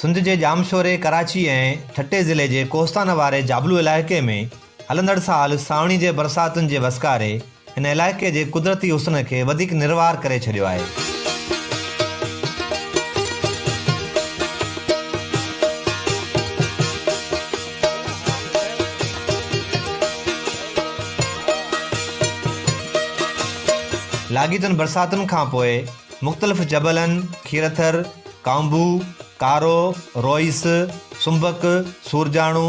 سنڌ جي ڄامشوري، ڪراچي ۽ ٺٽي ضلعي جي ڪوهستان واري جابلو علائقي ۾ هلندڙ سال سانوڻي جي برساتن جي وسڪاري هن علائقي جي قدرتي حسن کي وڌيڪ نروار ڪري ڇڏيو آهي. لاڳيتن برساتن کانپوء مختلف جبلن، کيرٿر، ڪانڀو، ڪارو، روئيس، سنبڪ، سورجاڻو،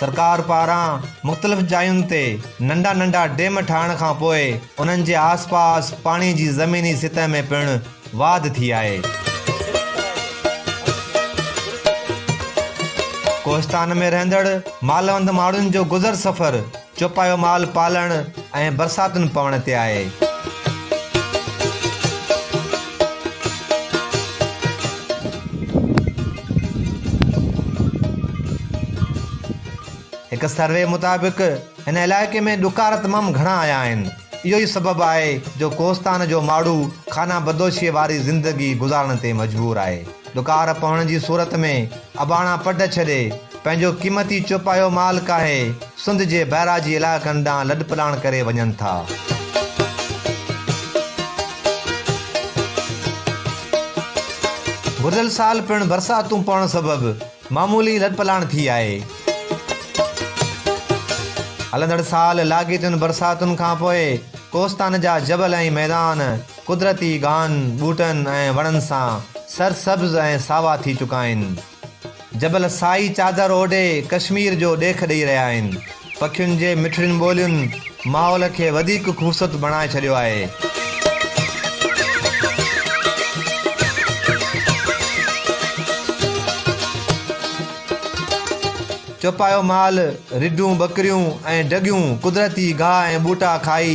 سرڪار پاران مختلف جاين تي ننڍا ننڍا ڊيم ٺاهڻ کان پوء انهن جي آس پاس پاڻي جي زميني سطح ۾ پڻ واڌ ٿي آهي. ڪوهستان ۾ رهندڙ مالوند ماڻهن جو گذر سفر چوپايو مال پالڻ ۽ برساتن پوڻ تي آهي. هڪ سروي مطابق هن علائقي ۾ ڏڪار تمام گهڻا آيا آهن. اهو ئي سبب آهي جو ڪوهستان جو ماڙهو خانه بدوشيء واري زندگي گذارڻ تي مجبور آهي. ڏڪار پوڻ جي صورت ۾ اباڻا پڊ ڇڏي، پنهنجو قيمتي چوپايو مال ڪاهي سنڌ جي بئراجي علائقن ڏانهن لڏپلاڻ ڪري وڃن ٿا. گذريل سال پڻ برساتون پوڻ سبب معمولي لڏپلاڻ ٿي آهي. هلندڙ سال لاڳيتين برساتن کانپوء ڪوستان جا جبل ۽ ميدان قدرتي گاهن، ٻوٽن ۽ وڻن سان سرسبز ۽ ساوا ٿي چڪا آهن. جبل سائي چادر اوڍي ڪشمير جو ڏيک ڏئي رهيا آهن. پکين جي مٺڙين ٻولين ماحول کي وڌيڪ خوبصورت بڻائي ڇڏيو آهي. چوپايو مال، رڍون، ٻڪريون ۽ ڍڳيون قدرتي گاهه ۽ ٻوٽا کائي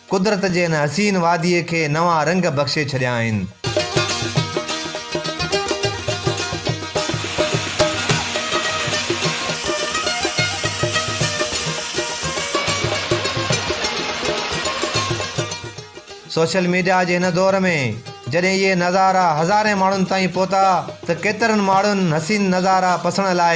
قدرت جي ان حسين واديء کي نوان رنگ بخشي ڇڏيا آهن. سوشل ميڊيا جي هن دور ۾ جڏهن اهي نظارا هزارين ماڻهن تائين پهتا ته ڪيترن ماڻهن حسين نظارا پسڻ لاء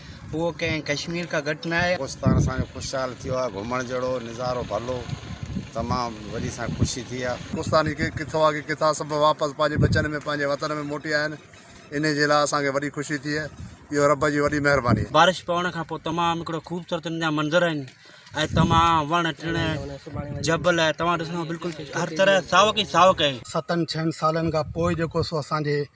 اهو ڪنهن ڪشمير کان گهٽ ناهي. پاڪستان اسان جو خوشحال ٿيو آهي گهمڻ جهڙو نظارو ڀلو تمام وڏي اسان کي خوشي ٿي آهي. پاڪستاني ڪي ڪٿو آ ڪي ڪٿا سڀ واپس پنهنجي ٻچن ۾ پنهنجي وطن ۾ موٽي آيا آهن انهي جي لاء اسان کي وڏي خوشي ٿي اهو رب جي وڏي مهرباني آهي. بارش پوڻ کان پوء تمام هڪڙو خوبصورت هن جا منظر آهن ۽ تمام وڻ ٽڻ جبل توهان ڏسندو بلڪل هر طرح ساوڪ ئي ساوڪ آهي. ستن ڇهن سالن کان پوء جيڪو سو اسان جي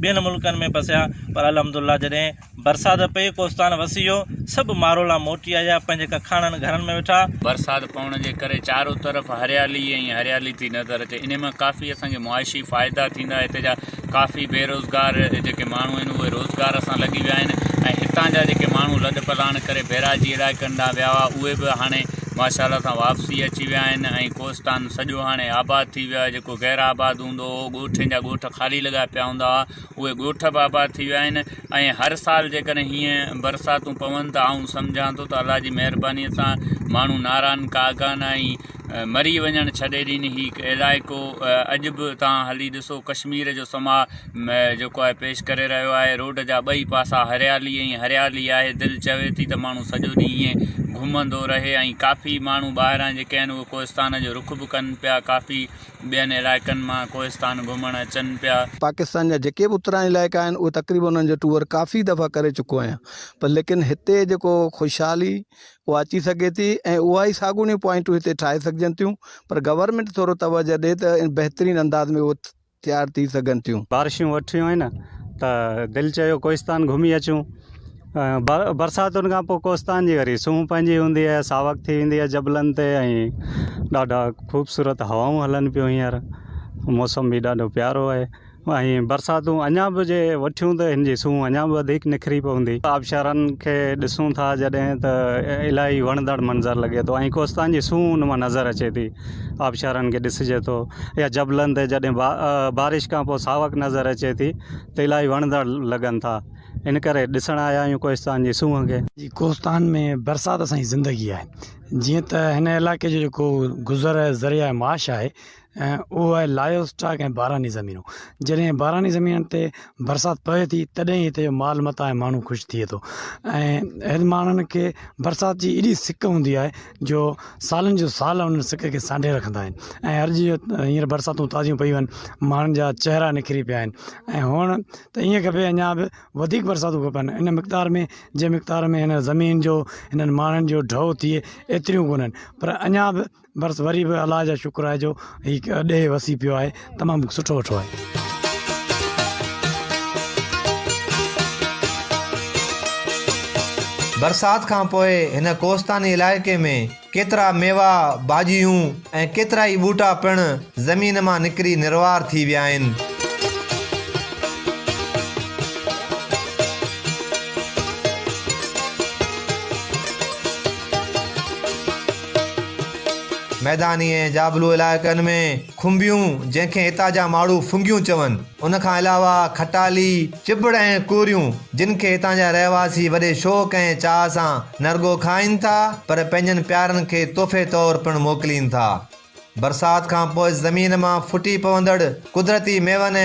ٻين ملڪن ۾ پسيا پر الحمدالله جڏهن برسات پئي ڪوستان وسي ويو سڀ مارولا موٽي آيا پنهنجي ڪکاڻن گهرن ۾ ويٺا. برسات پوڻ جي ڪري چارو طرف هريالي ئي هريالي ٿي نظر اچي انهي مان ڪافي اسان کي معاشي فائدا ٿيندا هتي جا ڪافي بيروزگار جيڪي ماڻهو آهن اهي روزگار سان لڳي ويا آهن ۽ هتان جا جيڪي ماڻهو لڏ پلاڻ ڪري بيراجي علائقن ڏانهن ويا هئا اهي به هاڻي ماشا الله سان واپسي اچي ويا آهن ۽ ڪوستان سڄو هاڻي آباد ٿي ويو آهي جيڪو غير آباد هوندو هو. ڳوٺين جا ڳوٺ خالي لڳا پيا هوندا هئا اهي ڳوٺ به آباد ٿي ويا آهن ۽ هر سال جيڪڏهن هيئن برساتون پون ته آئون سمجهان ٿو ته الله جي مهربانيء سان ماڻهو ناران ڪاغان ۽ مري وڃڻ ڇڏي ڏين هي علائقو اڄ به تان هلي ڏسو ڪشمير جو سماء جيڪو آهي پيش ڪري رهيو آهي روڊ جا ٻئي پاسا هريالي ۽ هريالي آهي دل چوي ٿي ته ماڻهو سڄو ڏينهن ائين گهمندو رهي ۽ ڪافي ماڻهو ٻاهران جيڪي آهن اهي ڪوهستان جو رخ به ڪن پيا ڪافي ٻين علائقن مان ڪوهستان گهمڻ اچن پيا. پاڪستان جا جيڪي به اتراهين علائقا آهن اهي تقريبن انهن جو ٽوئر ڪافي دفعا ڪري چڪو آهيان پر ليڪن هتي جيڪو خوشحالي اها اچي سگهي ٿي ۽ اها ئي ساڳوڻيون پوائنٽون هتي ٺاهي سگهجن ٿيون پر گورنمينٽ ٿورو توجهه ڏي ته بهترين انداز ۾ اهي تيار ٿي سگهن ٿيون. بارشون وٺيون آهن ته دل چيو ڪوهستان گهمي اچون برساتن کان پوء ڪوستان جي وري سونهن پئجي هوندي آهي ساوڪ ٿي ويندي آهي جبلن تي ۽ ڏاڍا خوبصورت هوائون هلن پيون هينئر موسم بي ڏاڍو پيارو آهي ۽ برساتون اڃا به جي وٺيون ته هن جي سونهن اڃا به وڌيڪ نکري پوندي آبشارن کي ڏسون ٿا جڏهن ته الاهي وڻندڙ منظر لڳي ٿو ۽ ڪوستان جي سونهن ان مان نظر اچي ٿي آبشارن کي ڏسجي ٿو يا جبلن تي جڏهن بارش کان پوء ساوڪ نظر اچي ٿي ته الاهي وڻندڙ لڳن ٿا ان ڪري ڏسڻ آيا آهيون ڪوهستان جي سونهن کي. جي ڪوهستان ۾ برسات اسانجي زندگي آهي جيئن ته هن علائقي جو جيڪو گذر آهي ذريع معاش آهي اهو آهي لائيو اسٽاڪ ۽ باراني زمينون جڏهن باراني زمينن تي برسات پوي ٿي تڏهن ئي هتي جو مال متا ۽ ماڻهو خوش ٿئي ٿو ۽ هن ماڻهن کي برسات جي ايڏي سڪ هوندي آهي جو سالن جو سال انهن سڪ کي سانڍي رکندا آهن ۽ هر جيئن هينئر برساتون تازيون پيون آهن ماڻهن جا چهرا نکري پيا آهن ۽ هونئن ته ائين کپي اڃا به وڌيڪ برساتون کپن ان مقدار ۾ جنهن مقدار ۾ هن زمين جو هنن ماڻهن جو ڍؤ ٿئي ايتريون ڪونهن پر اڃا به برس وري به الله جا شڪر آهي جو هي ڏيهه وسي پيو آهي تمام سٺو وٺو آهي برسات کانپوء هن ڪوستاني علائقي ۾ ڪيترا ميوا، ڀاڄيون ۽ ڪيترائي ٻوٽا پڻ زمين مان نڪري نروار ٿي ويا آهن. ميداني ۽ جابلو علائقن ۾. کنڀيون، جنهن کي هتان جا ماڻهو ڦنگيون چون، ان کان علاوه کٽالي، چٻڙ ۽ ڪوريون، جن کي هتان جا رهواسي وڏي شوق ۽ چاهه سان نه رڳو کائين ٿا پر پنهنجن پيارن کي تحفي طور پڻ موڪلين ٿا. برسات کان پوء زمين مان ڦٽي پوندڙ قدرتي ميون ۽